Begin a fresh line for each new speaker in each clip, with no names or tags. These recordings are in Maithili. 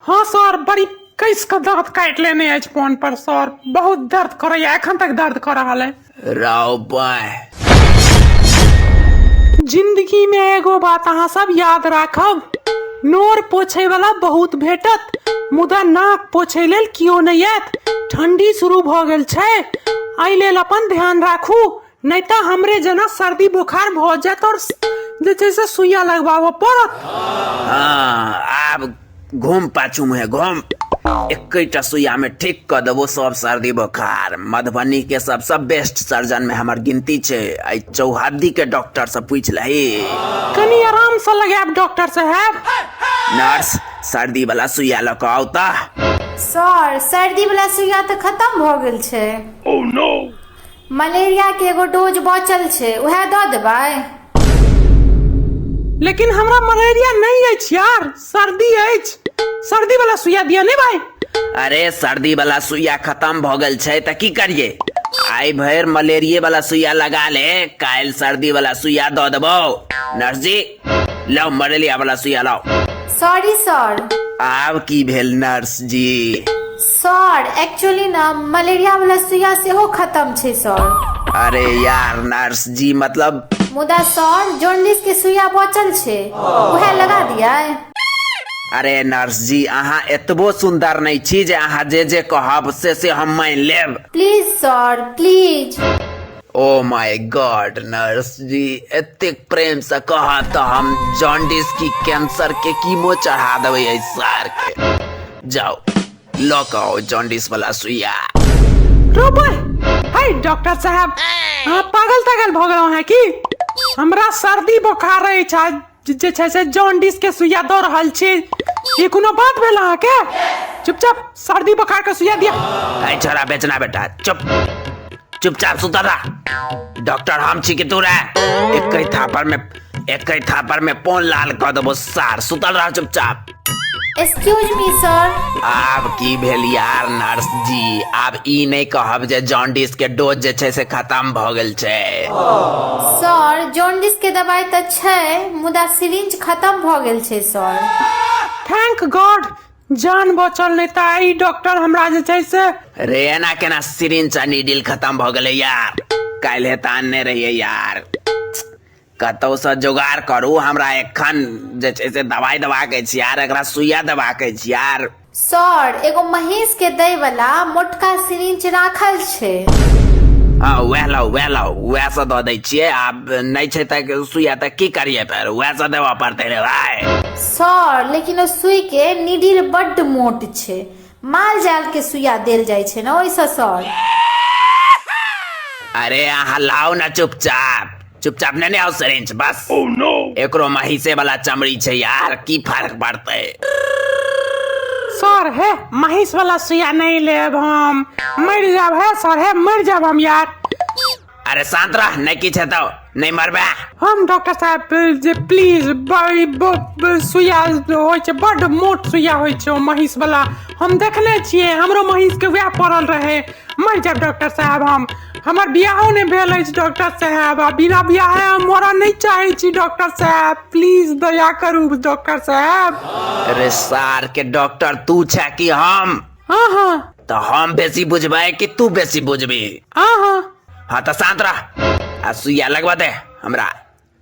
हँ सर बड़ी कैस के दांत काटि लेने अछि फोन पर सर बहुत दर्द करैया एखन तक दर्द कर रहल है राव बाय जिंदगी में एगो बात अहाँ सब याद राखब नोर पोछे वाला बहुत भेटत मुदा नाक पोछे लेल कियो नहि आयत ठंडी शुरू भऽ गेल छै एहि लेल अपन ध्यान राखू नहीं तो हमरे जना सर्दी बुखार हो जात और जे छै से सुइया लगवाबऽ पड़त हाँ
आब घूम पाछू मुहे घूम एकटा सुइया में ठीक कर देबो सब सर्दी बोखार मधुबनी के सबसे बेस्ट सर्जन में हमर गिनती छै आई चौहद्दी के डॉक्टर से पूछ लही कनी आराम
से लगाब डॉक्टर साहब नर्स
सर्दी वाला सुइया लऽ कऽ आउ तऽ सर
सर्दी वाला सुइया तऽ खत्म भऽ गेल छै
मलेरिया
के एगो डोज बचल छै उहे दऽ देबै
लेकिन हमरा मलेरिया नहीं अछि यार सर्दी अछि सर्दी वाला सुइया दिया ने भाई अरे सर्दी
वाला सुइया खत्म भ गेल छै त की करिए आई भर मलेरिया वाला सुइया लगा ले काल सर्दी वाला सुइया द देबो नर्स जी लाओ मलेरिया वाला सुइया लाओ सॉरी सर
आब की भेल
नर्स जी सर
एक्चुअली ना मलेरिया वाला सुइया सेहो खत्म छै सर अरे यार
नर्स जी मतलब मुदा सर
जॉन्डिस के सुइया बचल छै उहे लगा दिया अरे
नर्स जी अहाँ एतबो सुंदर नहीं छी जे अहाँ जे जे कहब से से हम मान लेब please sir
please oh
my God nurse ji एतेक प्रेम से कह तो हम जॉन्डिस की कैंसर के कीमो चढ़ा देवे सर के जाओ लऽ कऽ आओ जॉन्डिस वाला सुइया रोबो
हाय डॉक्टर साहब अहाँ पागल तागल भऽ गेलहुँ हैं की हमरा सर्दी बोखार रहै छै जे- जे छै से जॉन्डिस के सुइया दऽ रहल छी ई कोनो बात भेल अहाँके चुपचाप सर्दी बोखार के सुइया दिया ऐ छोरा बेचना
बेटा चुप चुपचाप सुता रहा डॉक्टर हम छी कि तू रे एक थापर में एक थापर में पोन लाल कऽ देबो सार सुतल रह चुपचाप एक्सक्यूज
मी सर आब की भेल
यार नर्स जी आब ई नहि कहब जे जॉन्डिस के डोज जे छै से खत्म भऽ गेल छै सर
जॉन्डिस के दवाई तऽ छै मुदा सिरिंज खत्म भऽ गेल छै सर थैंक
गॉड जान बचल नहि तऽ आइ डॉक्टर हमरा जे छै से रे एना केना
सिरिंज आ नीडिल खत्म भऽ गेलै यार काल्हे तऽ आनने रहियै यार कतहुसँ जोगाड़ करू हमरा एखन जे छै से दवाइ देबाक अछि आर एकरा सुइया देबाक अछि आर सर एगो
महेश के दै वाला मोटका सिरिंच राखल छै हँ
वएह लाउ वएह लाउ वएह से दऽ दै छियै आब नहि छै तऽ सुइया तऽ की करियै फेर वएह से देबऽ पड़तै रे भाय सर लेकिन
ओ सुई के निडिल बड्ड मोट छै माल जाल के सुइया देल जाइ छै ने ओहिसँ सर
अरे अहाँ लाओ ना चुपचाप चुपचाप ने आओ सरेंच बस oh, no. एकरो महिषे वाला चमड़ी छै यार की फर्क पड़ते सर
हे महिष वाला सुइया नहीं लेब हम मर जाब हे सर हे मर जाब हम यार अरे
शांत रह नहीं की छतो नहीं मरबे हम डॉक्टर साहब
जे प्लीज बड़ी ब- ब- सुइया होइ छै बड मोट सुइया होइ छै ओ महींस वाला हम देखने छियै हमरो महींस के वएह पड़ल रहे मर जाब डॉक्टर साहब हम हमर बियाहो नहि भेल अछि डॉक्टर साहब आ बिना बियाहे हम मरऽ नहि चाहै छी डॉक्टर साहब प्लीज दया करू डॉक्टर साहब अरे सार
के डॉक्टर तू छे कि हम हाँ हाँ
तो हम बेसी
बुझबे कि तू बेसी बुझबी हाँ हाँ हाँ तो शांत रह आ सुइया लगवा दे हमरा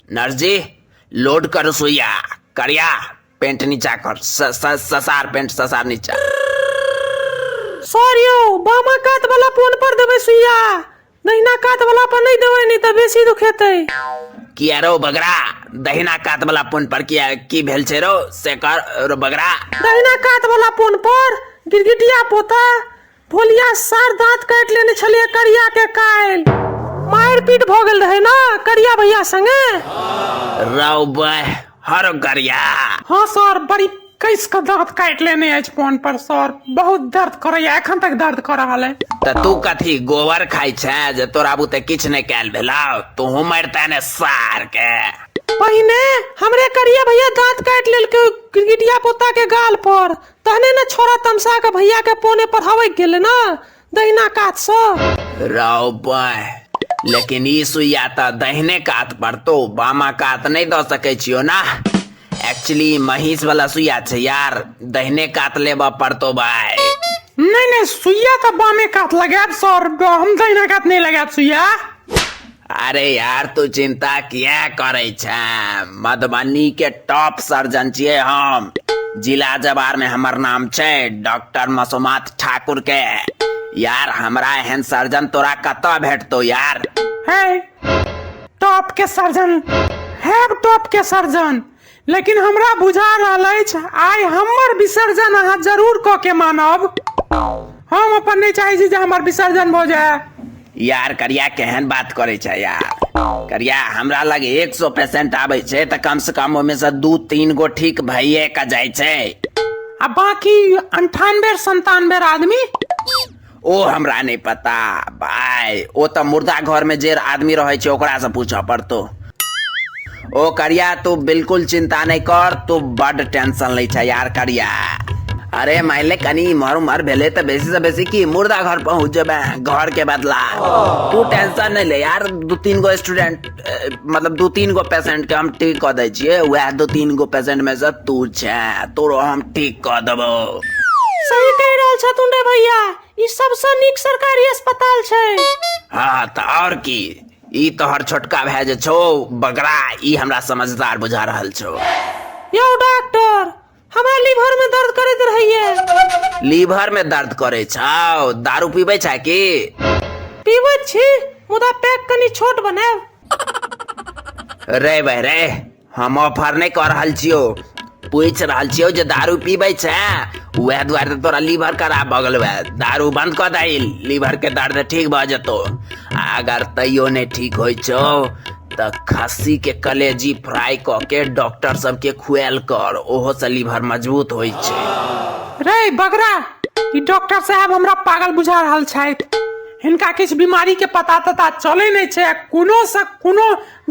नर्स जी लोड करो सुइया करिया पेंट नीचा कर स, स, ससार पेंट ससार नीचा सॉरी
बामा कात वाला फोन पर देबे सुइया दहिना कात वाला पर नहि देबै नहि तऽ बेसी दुखेतै किया रौ
बगरा दहिना कात वाला फोन पर किया की भेल छै रौ से कर रौ बगरा दहिना कात वाला
फोन पर गिरगिटिया पोता भोलिया सार दांत काटि लेने छलिए करिया के कायल मारि पीट भऽ गेल रहै ने करिया भैया संगे रौ
बह हर गरिया हाँ सर
बड़ी कैस के दांत काट लेने अछि फोन पर सर बहुत दर्द करैया एखन तक दर्द कर रहल है तऽ तू कथी
गोबर खाइ छै जे तोरा बुते किछु नहि कयल भेलौ तूहू मरिते ने सार के पहिने
हमरे करिया भैया दांत काट लेलकै गिरगिटिया पोता के गाल पर तहने ने छोरा तमसा के भैया के पोने पढ़ावे गेले ना दहिना कातसँ रौ बय
लेकिन ई सुइया तऽ दहिने कात पड़तो बामा कात नहि दऽ सकै छियो ना एक्चुअली महींस वाला सुइया छै यार दहिने कात लेबऽ पड़तो भाय नहि नहि
सुइया तऽ बामे कात लगायब सर हम दहिना कात नहि लगायब सुइया अरे
यार तू चिंता किया करे छै मधुबनी के टॉप सर्जन छिए हम जिला जवार में हमर नाम छै डॉक्टर मसुमात ठाकुर के यार हमरा एहन सर्जन तोरा कत भेटतो यार है
टॉप के सर्जन है टॉप के सर्जन लेकिन हमरा बुझा रहल अछि आइ हमर विसर्जन अहाँ जरूर कऽ के मानब हम अपन नहि चाहै छी जे हमर विसर्जन भऽ जाय यार करिया
केहन बात करे छै यार करिया हमरा लग एक सौ पेशेंट आबे छै तऽ कम से कम ओहिमे से दू तीन गो ठीक भइए के जाइ छै आ
बाकी अंठानबे संतानबे आदमी ओ
हमरा नहि पता भाय ओ तऽ मुर्दा घर में जे आदमी रहे छै ओकरा से पूछऽ पड़तो ओ करिया तू बिल्कुल चिंता नहीं कर तू बड टेंशन ले छै यार करिया अरे माइले कनी इम्हर उम्हर भेले तो बेसी से बेसी की मुर्दा घर पहुंच जेबे घर के बदला तू टेंशन नहीं ले यार दू तीन गो स्टूडेंट मतलब दू तीन गो पेसेंटके हम ठीक कऽ दै छियै उएह दू तीन गो पेसेंटमे सँ तू छै तोरो हम ठीक कऽ देबौ सही
कहि रहल छथुन रे भैया ई सबसँ नीक सरकारी अस्पताल छै हँ तऽ
आओर की ई तोहर छोटका भाय जे छौ बगरा ई हमरा समझदार बुझा रहल छौ यौ
डॉक्टर हमरा लीवर में दर्द करैत रहैया लीवर में दर्द
करे छाओ दारू पीबे छा की पीबै
छी मुदा पैक कनी छोट बनाएब
रे बे रे हम ऑफर नहीं कर रहल छियो पूछ रहल छियो जे दारू पीबे छे वह द्वारे तो तोरा लीवर खराब भऽ गेल वह दारू बंद कर दही लीवर के दर्द ठीक भऽ जतो अगर तैयो नहीं ठीक होइ छो तऽ खस्सी के कलेजी फ्राई कऽ के डॉक्टर सबके खुआल कर ओहो से लीवर मजबूत होइ छै रे बगरा
ई डॉक्टर साहब हमरा पागल बुझा रहल छथि हिनका किछु बीमारी के पता तता चलै नहि छै आ कोनो से कोनो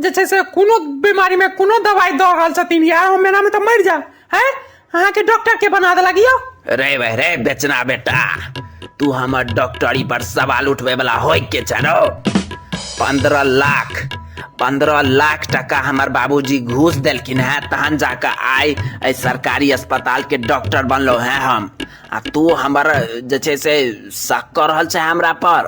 जे छै से कोनो बीमारी मे कोनो दवाई दऽ रहल छथिन यार हम एना मे तऽ मरि जायब हैं अहाँ के डॉक्टर के बना देलक यो रे वह रे
बेचना बेटा तू हमर डॉक्टरी पर सवाल उठबे वाला होय के छनो पंद्रह लाख पंद्रह लाख टका हमर बाबूजी घूस देलखिन है तहन जाके आइ एहि सरकारी अस्पताल के डॉक्टर बनलो है हम आ तू हमर जे छै से शक कर रहल छै हमरा पर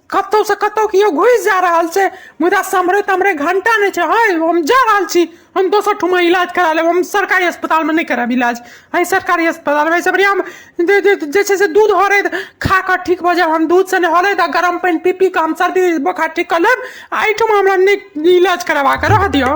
कतहुसँ कतहु केओ घुसि जा रहल छै मुदा सम्हरै तम्हरै घण्टा नहि छै हय हम जा रहल छी हम दोसर ठुमा इलाज करा लेब हम सरकारी अस्पतालमे नहि करायब इलाज एहि सरकारी अस्पतालमे एहिसँ बढ़िआँ हम जे जे जे छै से दूध हरैत खा कऽ ठीक भऽ जायब हम दूधसँ नहि हरैत आ गरम पानि पी पी कऽ हम सर्दी बोखार ठीक कऽ लेब आ एहिठमा हमरा नहि इलाज करबा कऽ रह दियौ